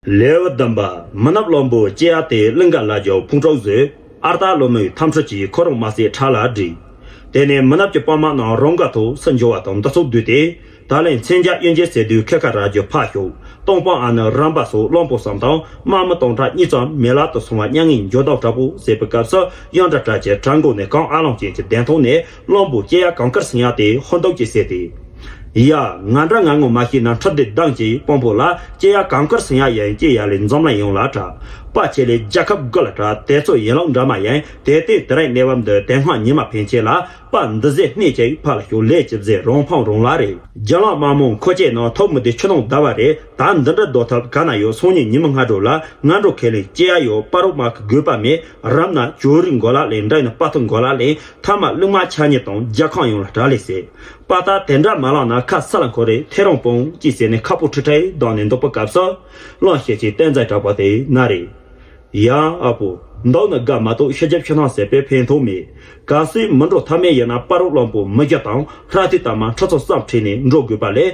ལེའུ་བདུན་པ། མི་ནག་བློན་པོ་སྐྱེ་ཡག་དེས་གླིང་ག་ལ་རྒྱའུ་ཕུང་དྲུག་བཟོས། ཨར་རྟ་བློན་མོའི་འཐམ་ཕྲུག་ཅིག་ཁོ་རང་མ་སའི་བྲག་ལ་བསྒྲིགས། དེ་ནས་མི་ནག་གི་དཔོན་དམག་རྣམས་རང་ག་ཐུག་སུ་འབྱོར་བ་དང་འདི་ཚོ་བསྡུས་ཏེ། ད་ལན་མཚན་བརྒྱ་གཡོན་ཅན་ཟེར་དུས་ཁལ་ཁ་ར་རྒྱུ་ཕག་ཤོག་སྟོང་དཔོན་ཨ་ནི་རམ་པ་སོགས་བློན་པོ་བསམ་དང་དམག་མི་སྟོང་ཕྲག་གཉིས་ཙམ་མེད་བརླག་ཏུ་སོང་བ་མྱ་ངན་འགྱོད་བདག་དྲག་པོ་ཟེར་བའི་སྐབས་སུ་གཡང་དྲག་དྲག་ཅེས་བྲག་མགོ་ནས་གངས་ཨ་ལོང་ཅན་གྱི་གདན་ཐོག་ནས་གླང་པོ་སྐྱེས་ཡ་གངས་དཀར་སྲིན་ཡ་དེ་ཧོན་ཏོག་ཅེས་ཟེར་ཏེ། ཡ། ང་འདྲ་ང་ངོ་མ་ཤེས་ན་འཁྲབ་སྡེར་སྡང་གྱིས་དཔོན་པོ་ལ་སྐྱེས་ཡ་གངས་དཀར་སྲིན་ཡ་ཡན་སྐྱེས་ཡ་ལས་འཛོམས་ལ་ཡོང་ལ་གྲྭ་པ་ཁྱེད་ལས་རྒྱལ་ཁབ་དགོས་ལ་གྲྭ་དེ་ཚོ་ཡན་ལག་འདྲ་མ་ཡན་དེ་ལྟས་དེ་རིང་གནས་བབ་འདི་དེ་སྔ་ཉི་མ་ཕན་ཆད་ལ་པ་འདི་ཟས་སྣེ་ཅིག་ཕ་ལ་ཞོག་ལས་ཅི་བཟས་རང་ཕམ་རང་ལ་རེད། རྒྱ་ནག་དམངས་མོ་མཁོ་ཆས་ནང་ཐོག་མི་དེ་ཆུ་ནང་བདའ་བ་རེད་ད་འདི་འདྲ་ལྡོག་ཐབས་ག་ན་ཡོད་སང་ཉིན་ཉི་མ་སྔ་དྲོ་ལ་ང་འགྲོ་ཁས་ལེན་སྐྱེས་ཡ་ཡོད་པ་རོགས་དམག་གི་དགོས་པ་མེད་རབས་ན་ཇོ་རིགས་འགོ་ལ་ལེན་འདྲ་ཡིན་ན་དཔའ་ཐུབ་འགོ་ལ་ལེན། མཐའ་མ་གླུ་མ་ཆགས་ཉེས་དང་རྒྱལ་ཁང་ཡོངས་ལ་དྲག་ལས་ཟེར་པ་ད་དེ་འདྲ་མ་ལངས་ན་ཁ་ས་ལ་འཁོར་རེ་ཐེ་རང་སྤོང་ཅིག་ཟེར་ནས་ཁ་སྤུ་ཁྲི་ཁྲི་བསྡང་ནས་འདུག་པ་སྐབས་སུ་གླང་ཤེད་ཅིག་བསྟན་རྩལ་དྲག་པ་དེ་ན་རེ། ཡང་ཨ་ཕོ། མདོག་ནི་དགའ་མ་གཏོགས་ཤེས་རྒྱ་ཆུ་ཐང་ཟད་པའི་ཕན་ཐོག་མེད། ག་སྲིད་མི་འགྲོ་ཐབས་མེད་ཡིན་ན་པར་རོ་གླང་པོ་མི་རྒྱ་དང་ལྷ་ཐི་དར་མ་ཁྲི་ཚོ་བསམ་ཁྲིད་ནས་འགྲོ་དགོས་པ་ལས་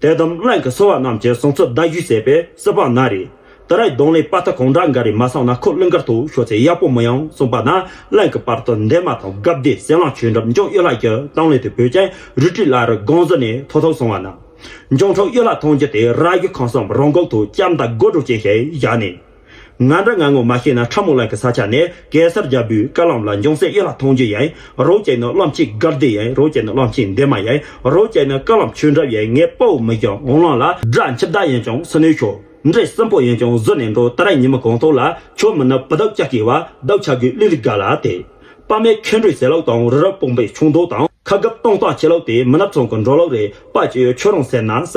དད་དམ་བརླན་གྱི་སོ་བ་རྣམས་ཀྱི་གསུང་ཚུལ་བརྡ་ཞུས་ཟད་པའི་སྲིད་པ་ན་རེ། ད་རེས་གདོང་ལེན་དཔའ་རྟགས་གང་འདྲ་འགའ་རེ་མ་སངས་ན་ཁོ་གླིང་དཀར་དུ་ཤོག་ཚེ་ཡག་པོ་མི་ཡོང་གསུངས་པ་ན་གླིང་གི་བར་དུ་འདན་མ་དང་སྒབ་བདེ་གསལ་ལང་ཆོས་འགྲམ་ལྗོངས་གཡུ་ལྷ་ཀྱི་གཏམ་གླེང་དུ་བོད་ཅན་རུས་དྲི་བླ་རུ་སྒང་ཟུར་ནས་ཐོ་ཐོ་སོང་བ་ན། ལྗོངས་ཁྲོ་གཡུ་ལྷ་ཐང་རྒྱུད་དེ་རྭ་གཡུ་ཁང་སམ་རོང་འགོག་དུ་ལྕམ་དང་སྒོ་དྲུག་ཅན་ཞིག་བཞག་ནས། ང་འདྲ་ང་ངོ་མ་ཤེས་ན་ཁྲ་མོ་ལགས་ཀྱི་ས་ཆ་ནས་གེ་སར་རྒྱལ་པོའི་བཀའ་ལམ་ལ་འབྱུང་སའི་གཡས་ལ་ཐང་ཆུ་ཡའི་རོ་བྱས་ནས་གླང་ཆེན་དགའ་བདེ་ཡའི་རོ་བྱས་ནས་གླང་ཆེན་འདས་མ་ཡའི་རོ་བྱས་ནས་བཀའ་ལམ་ཆོས་འདྲ་ཡའི་ངའི་དཔའ་བོ་མི་རྒྱ་འོང་གླང་ལ། སྦྲ་འཆི་བདག་ཡིན་ཀྱང་སུ་ནུས་ཤོག། འདྲེ་སྲིན་པོ་ཡིན་ཀྱང་གཟུར་ནས་འགྲོ་ད་ར་ཉི་མ་གང་ཐོག་ལ་ཆོས་མི་ནུབ་བུ་བདག་ཅག་གིས་བ་བདག་ཆགས་དགོས་གླིང་རི་ག་ལ་དེ། དཔའ་མའི་ཁེ་འགྲོས་ཟེར་ལགས་དང་རི་རབ་སྤུངས་པའི་ཆུང་མདོག་དང་ཁ་གབ་སྟོང་སྟངས་བྱེད་ལགས་དེ་མི་ནབ་ཚང་གི་འགྲོ་ལགས་རེད་དཔའ་ཅི་ཡོད་ཁྱོད་རང་ཟེར་ན་ཟ།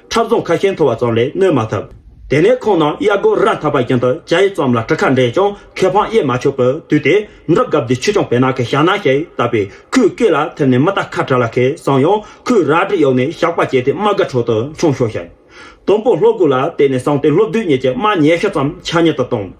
འཁྲབ་རྫོང་ཁ་ཤས་མཐོ་བ་ཙམ་ལས་གནོད་མ་ཐུབ། དེ་ནས་ཁོང་རྣམས་གཡག་རྒོད་ར་འཐབ་པ་བཞིན་དུ་བྱ་ཡི་རྩོམ་ལ་གྲུ་ཁ་འདྲེས་ཀྱང་ཁེ་ཕང་དབྱེ་མ་ཆོག་པར་དུས་དེ་འདྲ་སྐབས་འདི་ཆུ་ཆུང་བེ་ནག་གི་ཞག་ནག་ཞིག་བཏབ་པས་ཁོའི་སྐེ་ལ་ཐིམ་ནས་མི་རྟ་ཁ་བྲལ་ལ་ཁེ་བཟང་ཡང་ཁོས་རལ་གྲི་གཡོགས་ནས་ཞགས་པ་བཅད་དེ་དམག་སྒར་ཁྲོད་དུ་མཆོང་ཤོར་ཞིང། དུམ་བུ་ལྷོ་སྒོ་ལ་བལྟས་ནས་སངས་ཏེ་ལྷོ་བདུད་གཉིས་ཀྱི་དམག་ཉེ་ཤུ་ཙམ་ཆ་ཉེར་དུ་བཏང།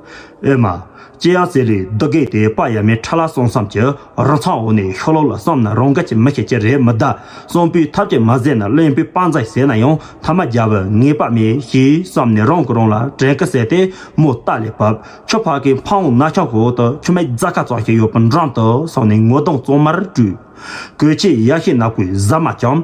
ཨེ་མ། ཅི་ཡང་ཟེར་རིགས་འདི་གས་དེ་དཔའ་ཡ་མའི་ཁྲ་ལ་སོང་བསམ་གྱི་རང་འཚང་འོག་ནས་ཤོ་ལོ་ལ་བསམ་ན་རང་དགའ་ཅི་མི་ཤེས་ཅི་རེད་མི་གདའ། གསང་པོའི་ཐབས་ཀྱིས་མ་བཟས་ན་གླེན་པོའི་དཔའ་མཛངས་ཟས་ན་ཡང་མཐའ་མ་རྒྱ་བོད་ངེས་པ་མེད་ཞེས་བསམ་ནས་རང་གི་རང་ལ་དྲན་སྐུལ་བྱས་ཏེ་མོ་རྟ་ལས་བབས། ཁྱོད་ཕ་གིའི་འཕང་བོང་ན་ཁྱང་འོག་ཏུ་ཆུ་མིག་རྫ་ཁ་ཙམ་ཞིག་ཡོད་པ་འགྲམ་དུ་སོང་ནས་ངོ་གདོང་གཙང་མར་བཀྲུས། གོས་ཕྱེད་ཡག་ཤེས་ནག་པོའི་གཟབ་མ་བཅངས།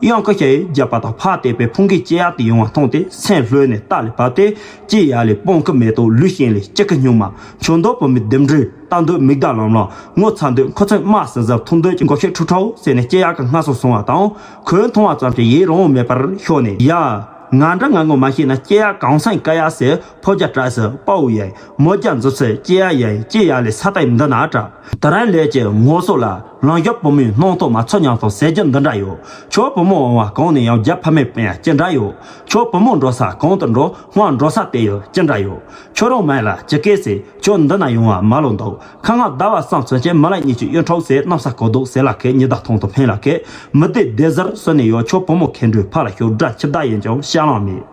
གཡང་ཀ་ཤ་ཡིས་རྒྱབ་པ་དང་ཕར་བལྟས་པས་ཕུང་ཁེ་ལྕེ་ཡག་ཏུ་ཡོང་བ་མཐོང་སྟེ་སེམས་ལྷོད་ནས་སྟ་ལས་བབས་ཏེ་ལྕེ་ཡག་ལས་སྤོང་གི་མེ་ཏོག་ལུས་ཞེན་ལས་ལྕེ་ཁ་སྨྱུག་མ་མཆོད་མདོག་བུ་མོའི་ལྡེམ་འགྲོས་ལྟ་འདོད་མིག་དར་ལམ་ལམ་ངོ་ཚ་འདོད་མཁོ་ཚོད་དམའ་ཟིང་ཟིང་འཐུང་འདོད་ཀྱི་མགོ་ཤེར་ཁྲུག་ཁྲོ་ཟེར་ནས་ལྕེ་ཡག་གི་སྔ་སོང་སོང་བ་དང་ཁོའི་མཐོང་བ་ཙམ་གྱིས་ཡིད་རང་བོ་མེད་པར་ཤོར་ནས་ཡ། ང་འདྲ་ང་ངོ་མ་ཤེས་ན་ལྕེ་ཡག་གང་སེང་ཀ་ཡག་ཟེར། ཕོ་བརྒྱ་བཀྲ་ཟེར་དཔའ་བོ་ཡ། མོ་བརྒྱ་མཛོ་ཟེར་སྐྱེས་ཡ་ཡ། སྐྱེས་ཡ་ལས་ས་ཏའི་འདི་ན་བཀྲ། དེ་རིང་ལས་ཀྱི་ངོ་སོ་ལ། ལང་གཡོག་བུ་མོའི་སྣང་སྟོང་མ་ཚོར་ཉམས་སོང་ཟེར་རྒྱུ་འདི་འདྲ་ཡོད། ཁྱོད་བུ་མོ་འོང་བ་གང་ནས་ཡང་བརྒྱ་ཕ་མའི་དཔེ་ཡང་ཅི་འདྲ་ཡོད། ཁྱོད་བུ་མོ་འགྲོ་ས་གང་དུ་འགྲོ་སྔར་འགྲོ་ས་དེ་ཡང་ཅི་འདྲ་ཡོད། ཁྱོད་རང་མལ་ལ་ཇི་སྐད་ཟེར་ཁྱོད་འདི་ན་ཡོང་བ་མ་ལོ་འདུག་ཁ་ང་ཟླ་བ་སམ་ཚུན་ཆད་མི་ལ་གཉིས་ཀྱི་གཡོན་འཕྲོག་ཟེར་གནམ་ས་གོ་འདུག་ཟེར་ལ་ཁད་ཉི་ཟླ་ཐང་དུ་འཕེན་ལ་ཁད་མི་བདེ་བདེ་ཟེར་སོན་ནས་ཡོད་ཁྱོད་བུ་མོ་ཁེ་འགྲོའི་ཕ་ལ་ཞོགས་དགྲ་ཁྱི་བདག་ཡིན་ཀྱང་ཤ་རླངས་མེད།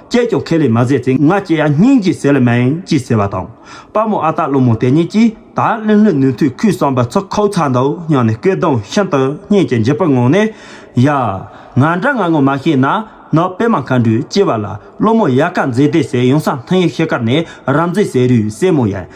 སྐྱེས་ཀྱང་ཁས་ལེན་མ་མཛད་ཚེ་ང་སྐྱེས་ཡ་སྙིང་རྗེའི་ཟས་ལ་མེད་ཅེས་ཟེར་བ་དང། དཔའ་མོ་ཨ་སྟག་ཀླུ་མོ་དེ་གཉིས་ཀྱིས་ད་ལིང་ལྷུན་ནུས་མཐུས་ཁོའི་བསམ་པ་ཚུར་ཁོག་ཚ་མདའུ་བསྙགས་ནས་སྐད་གདངས་ཤིན་ཏུ་སྙན་གྱི་འཇིབ་པར་ངང་ནས། ཡ། ང་འདྲ་ང་ངོ་མ་ཤེས་ན་ནག་པད་མ་མཁའ་འགྲོས་སྐྱེས་པ་ལ་ཀླུ་མོ་ཡལ་ག་མཛེས་ལྡན་ཟེར་ཡང་ས་མཐའི་ཡུལ་ཤེལ་དཀར་ནས་རབ་མཛེས་ཟེར་རུའི་སྲས་མོ་ཡལ་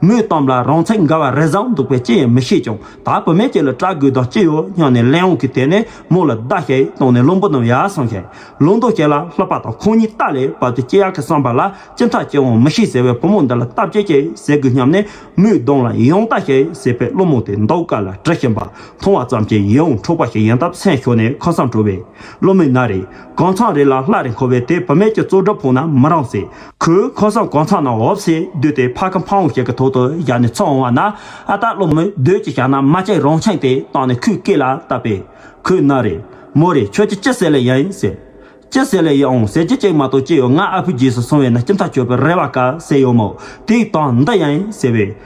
མོའི་གཏམ་ལ་རང་ཚིག་འགའ་བ་རེ་བཟང་འདུག་པས་ཅི་ཡང་མི་ཤེས་ཀྱང་ད་བུད་མེད་ཅིག་ལ་སྐྲག་དགོས་དོན་ཅི་ཡོད་སྙམ་ནས་གླེང་འོང་གི་དེ་ནས་མོ་ལ་བདའ་ཞེས་བཏང་ནས་བློན་པོ་རྣམས་ཡར་སོང་ཞིང་ལུང་མདོ་བྱས་ལ་ལྷགས་པ་དང་ཁོང་གཉིས་རྟ་ལས་བབས་ཏེ་ཅི་ཡག་གི་བསམ་པ་ལ་ཅི་མཐའ་སྐྱེ་འོང་མི་ཤེས་ཟེར་བས་བུ་མོ་འདི་ལ་སྟབས་ཅི་ཞིག་ཟེར་དགོས་སྙམ་ནས་མོའི་གདོང་ལ་ཡང་བལྟ་ཞེས་ཟེར་པས་བློན་མོ་དེ་མདོག་དཀར་ལ་དྲི་ཞིམ་པ་མཐོང་བ་ཙམ་གྱིས་ཡིད་འོང་འཕྲོག་པ་ཞིག་ཡིན་སྟབས་སེམས་ཤོར་ནས་ཁ་སང་བྲོས་པས་བློན་མོས་ན་རེ། གང་ཚང་རེ་ལ་སླ་རེ་འཁོར་བས་དེ་བུ་མེད་ཀྱི་གཙོ་སྒྲུབ་ཕུང་ན་མི་རང་སྲིད། ཁོས་ཁོ་སྲང་གང་ཚང་ནང་འོབས་སེ་བསྡུས་ཏེ་ཕ་གི་འཕང་བོ་ཞིག་གི་ཐོག་ཏུ་བཞག་ནས་འཚོ་འོང་བ་ན་ཨ་སྟག་ལོ་མོས་སྡོད་ཅིག་བཞག་ན་མ་ཅིག་རང་ཆང་དེ་བཏང་ནས་ཁོའི་སྐེ་ལ་བཏབ་པས། ཁོས་མནའ་རེ། མོ་རེ་ཁྱོད་ཀྱིས་ཅི་ཟེར་ལེ་ཡིན་ཟེར། ཅི་ཟེར་ལེ་ཡིན་ཨང་ཟེར་གྱི་ཅིག་མ་གཏོགས་ཅི་ཡོད་ང་ཨ་ཕོའི་རྗེས་སུ་སོང་བས་ན་ཁྱིམ་ཐག་ཆོད་པའི་རེ་བ་དཀའ་ཟེར་ཡོད་མོད་དེའི་སྟངས་འདི་ཡིན་ཟེར་བས།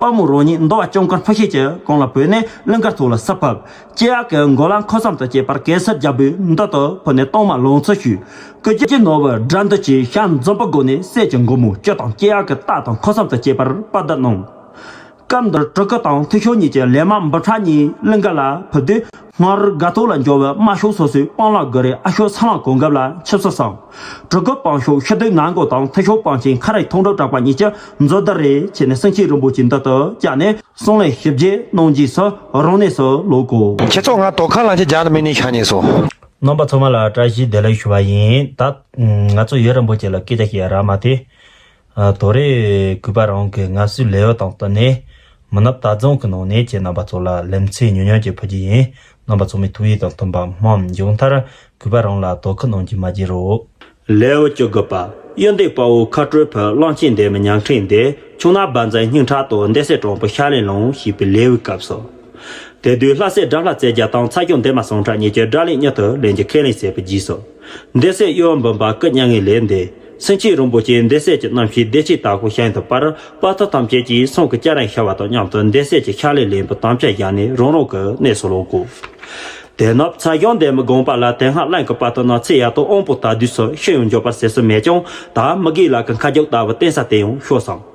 དཔའ་མོ་རོ་གཉིས་མདོ་བ་སྐྱོང་མཁར་འཕགས་ཤེལ་གྱི་གོང་ལ་བུད་ནས་གླིང་དཀར་ཐུག་ལ་སར་ཕབ། སྐྱེ་ཡག་གི་མགོ་ལ་མཁོ་བསམ་དུ་བསྐྱེད་པར་གེ་སར་རྒྱལ་པོའི་མདུན་དུ་བུད་ནས་གཏོར་མ་ལོངས་སྤྱོད་ཞུས། སྐུ་སྐྱེ་ནོར་བུ་དགྲ་འདུལ་གྱི་ཞལ་འཛོམས་པ་བསྒོ་ནས་སྲས་ཀྱི་མགོ་མོ་གཅོད་དང་སྐྱེ་ཡག་གི་རྟགས་དང་མཁོ་བསམ་དུ་བསྐྱེད་པར་དཔའ་བརྡ་གནང། སྐབས་འདིར་གྲུ་གུ་དང་ཐུགས་ཤོར་གཉིས་ཀྱི་ལས་མ་འབུམ་ཕྲག་གཉིས་གླིང་དཀར་ལ་བུད་དུས། སྔར་དགའ་ཐོག་ལ་འབྱོར་བའི་དམར་ཤོག་སོ་སོའི་དཔང་ལག་སྒོ་རའི་ཨ་ཤོག་ཚང་ལ་གོ་འགབ་ལ་ཆིབས་ས་སམ། གྲུ་གུ་དཔང་ཤོག་ཤི་དུས་ནང་སྒོ་དང་མཐིལ་ཤོག་དཔང་ཆེན་ཁ་རས་ཐོག་འགྲོ་དྲགས་པ་གཉིས་ཀྱི་མཛོད་བརྡར་རེ་བྱས་ནས་སེང་ཆེན་རིན་པོ་ཆེའི་མདུན་དུ་བཀྱགས་ནས། གསུང་ལན་ཞིབ་རྒྱས་གནང་རྗེས་སུ་རང་གནས་སུ་ལོག་གོ། ཁྱེད་ཚོ་ང་དོ་ཁ་ལང་ཆེ་རྒྱག་ནི་མི་ནི་ཤ་ཉེ་སོ། རྣམ་པ་ཚང་མ་ལ་བཀྲ་ཤིས་བདེ་ལེགས་ཞུ་བ་ཡིན། ད་ང་ཚོ་ཡུལ་རིན་པོ་ཆེ་ལ་སྐད་ཆ་བཤད་ཡ་ར་མ་དེ། དོ་རེ། གུས་པ་རང་གི་ངལ་གསོའི་ལས་ཡོད་དང་བསྟུན་ནས། མི་ནུབ་རྟ་རྫོང་གི་ནང་གནས་ཀྱི་རྣམ་པ་ཚོ་ལ་ལེམ་ཚེ་ཉུང་ཉུང་ཅིག་ཕུལ་རྒྱུ་ཡིན། རྣམ་པ་ཚོ་མི་ཐུག་ཡིད་དང་མཐུན་པ་སྨོན་མཇུག་མཐར། གུས་པ་རང་ལ་དོ་ཁུར་གནང་རྒྱུ་མ་བརྗེད་རོགས། ལེའུ་བཅུ་དགུ་པ། གཡུ་འདེགས་དཔའ་བོ་ཁ་སྤྲོད་ཕུད་གླང་ཆེན་འདེམས་ཉང་ཁྲིག་འདེད་ཆུང་ནག་འབར་མཚན་སྙིང་ཁྲག་དོག་འདེད་སྲས་དྲང་པོ་ཤར་ལས་ལངས་ཞེས་པའི་ལེའུའི་སྐབས་སོ། དེ་དུས་ལྷ་སྲས་དགྲ་ལྷ་རྩེ་རྒྱལ་དང་ཚ་སྐྱོང་འདན་མ་ཟངས་ཁྲག་གཉིས་ཀྱི་དགྲ་ལས་མྱུར་དུ་ལེན་རྒྱུ་ཁས་ལེན་བྱས་པའི་རྗེས་སོ། འདས་སྲས་གཡོ་བ་འབུམ་པ་སྐུ་མྱ་ངན་ལས་འདས། སེང་ཆེན་རིན་པོ་ཆེའི་འདས་སྲས་ཀྱི་རྣམ་ཤེས་བདེ་སྐྱིད་དྭགས་པོ་ཤའི་འདི་པར་དཔའ་རྟགས་ཐམས་ཅད་ཀྱིས་གསུང་གི་སྐྱ་རེངས་ཤར་བ་དང་མཉམ་དུ་འདས་སྲས་ཀྱི་ཕྱག་ལས་ལན་བུ་དམ་བཅའ་བཞག་ནས་རང་རང་གི་གནས་སུ་ལོག་གོ། དེ་ནི་ཚ་གཞོང་འདས་མི་དགོངས་པ་ལ་དེ་སྔ་བླངས་ཀྱི་བར་དུ་ནང་ཚེ་ཡག་དང་དབང་པོ་དག་བསྡུས་སུ་ཤི་ཡང་འབྱོར་པར་ཟད་སྲོལ་མེད་ཀྱང་ད་མི་དགེའི་ལག་གི་མཁའ་རྒྱབ་ལྟ་བུ་བསྟན་ས་དེ་ཡང་ཤོར་སོང།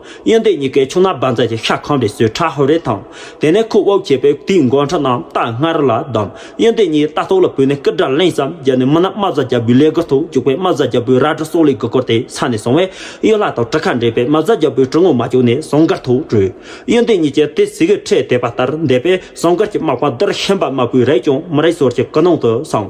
གཡོན་དེ་གཉིས་ཀའི་ཆུ་སྣ་འབར་འཛག་གི་ཤ་ཁང་རེ་ཟོས་ཁྲ་ཧོར་རེ་དང། དེ་ནས་ཁུ་དབུགས་ཆད་པས་དུས་འགོ་ཁྲ་རྣམས་རྟ་སྔར་ལ་བསྡམས། གཡོན་དེ་གཉིས་རྟ་ཐོག་ལ་བུད་ནས་སྐུ་དགྲར་གླེང་བསམ་རྒྱབ་ནས་མི་ནག་རྨ་བཟའ་རྒྱལ་པོའི་ལས་སྒོར་ཐུག་བཅུག་པས་རྨ་བཟའ་རྒྱལ་པོའི་རྭ་གྲི་སྲོག་ལས་དགུ་བསྐོར་ཏེ་ས་ནས་སོང་བས། གཡོན་ལྷ་དང་གྲི་ཁ་འདྲེས་པས་རྨ་བཟའ་རྒྱལ་པོའི་གྲི་ངོ་མ་བཅུག་ནས་ཟངས་དཀར་ཐོག་བྲོས། གཡོན་དེ་གཉིས་ཀྱིས་དེ་ཟི་གིས་ཁྲེས་བསྡད་པ་ལྟར་བསྡད་པས་ཟངས་དཀར་གྱི་མག་པ་འདིར་ཤན་པ་དམར་པོའི་རས་ཀྱང་མི་རེག་ཟོར་གྱི་ཀི་ནང་དུ་སངས།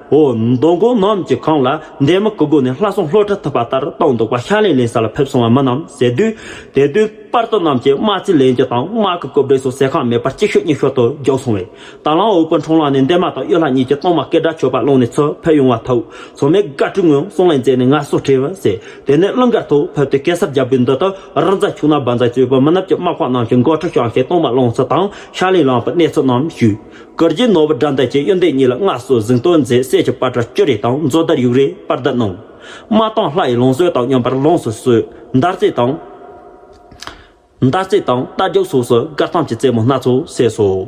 འོ་མདོ་མགོ་འམ་གྱི་གངས་ལ་འདན་མ་གི་སྒོ་ནས་ལྷ་སྲུང་ལྷོ་བྲ་ཐུབ་པ་ལྟར་བཏང་འདུག་པ་ཤར་ལན་ལན་ས་ལ་ཕེབས་སོང་བ་མིན་ནམ་ཟེར་དུས། དེ་དུས་པར་ཏོ་རྣམས་ཀྱིས་དམག་རྩིས་ལེན་རྒྱུ་དང་དམག་གི་རྐུབ་སྒྲིལ་སོགས་ཟས་ཁང་མེད་པར་གཅིག་ཤོས་གཉིས་ཤོས་དུ་རྒྱོབས་སོང་བས། དང་བླངས་འོག་པོ་འཕྲང་ལག་ནས་འདན་མ་དང་གཡུ་ལྷ་གཉིས་ཀྱིས་གཏོང་མ་སྐད་སྒྲ་ཆོད་པ་སློང་ནས་ཚུར་ཕེབས་ཡོང་བ་ཐུག་སོང་མེད་དགའ་སྤྲུལ་ངོས་གསུང་ལན་མཛད་ནས་ང་སོ་ཁྲིད་བ་ཟེར་དེ་ནས་གླིང་དཀར་ཐོག་ཕེབས་ཏེ་གེ་སར་རྒྱབ་རི་འདི་དུ་རི་འཛའ་ཕྱུག་ན་སྦ་འཛའ་གཅོད་པོ་མི་ནབ་ཀྱི་དམག་དཔོན་རྣམས་ཀྱིས་མགོ་ཁྲིད་བཤང་ཤེད་གཏོང་མ་སློང་ཚུལ་དང་ཤར་ལན་ལངས་པའི་གནས་ཚུལ་རྣམས་ཞུས། གུར་གྱི་ནོར་བུ་དགྲ་མདའ་གྱི་གཡོན་སྟེང་གཉིས་ལ་སྔགས་སོ་གཟིག་མདོས་མཛད་གསེར་གྱི་པར་ཏྲ་བཅུ་རེ་དང་མཛོ་དར་ཡུག་རེ་པར་བརྡ་གནང། མ་དང་ལྷ་ཡི་ལོངས་སྤྱོད་དང་སྙོམས་པར་ལོངས་སུ་གསོལ། མདར་རྩེ་དང། མདར་རྩེ་དང་རྟ་རྒྱུག་སོགས་སུ་དགར་སྟངས་ཀྱི་རྩེད་མོ་སྣ་ཚོགས་བསྲེས་སོ།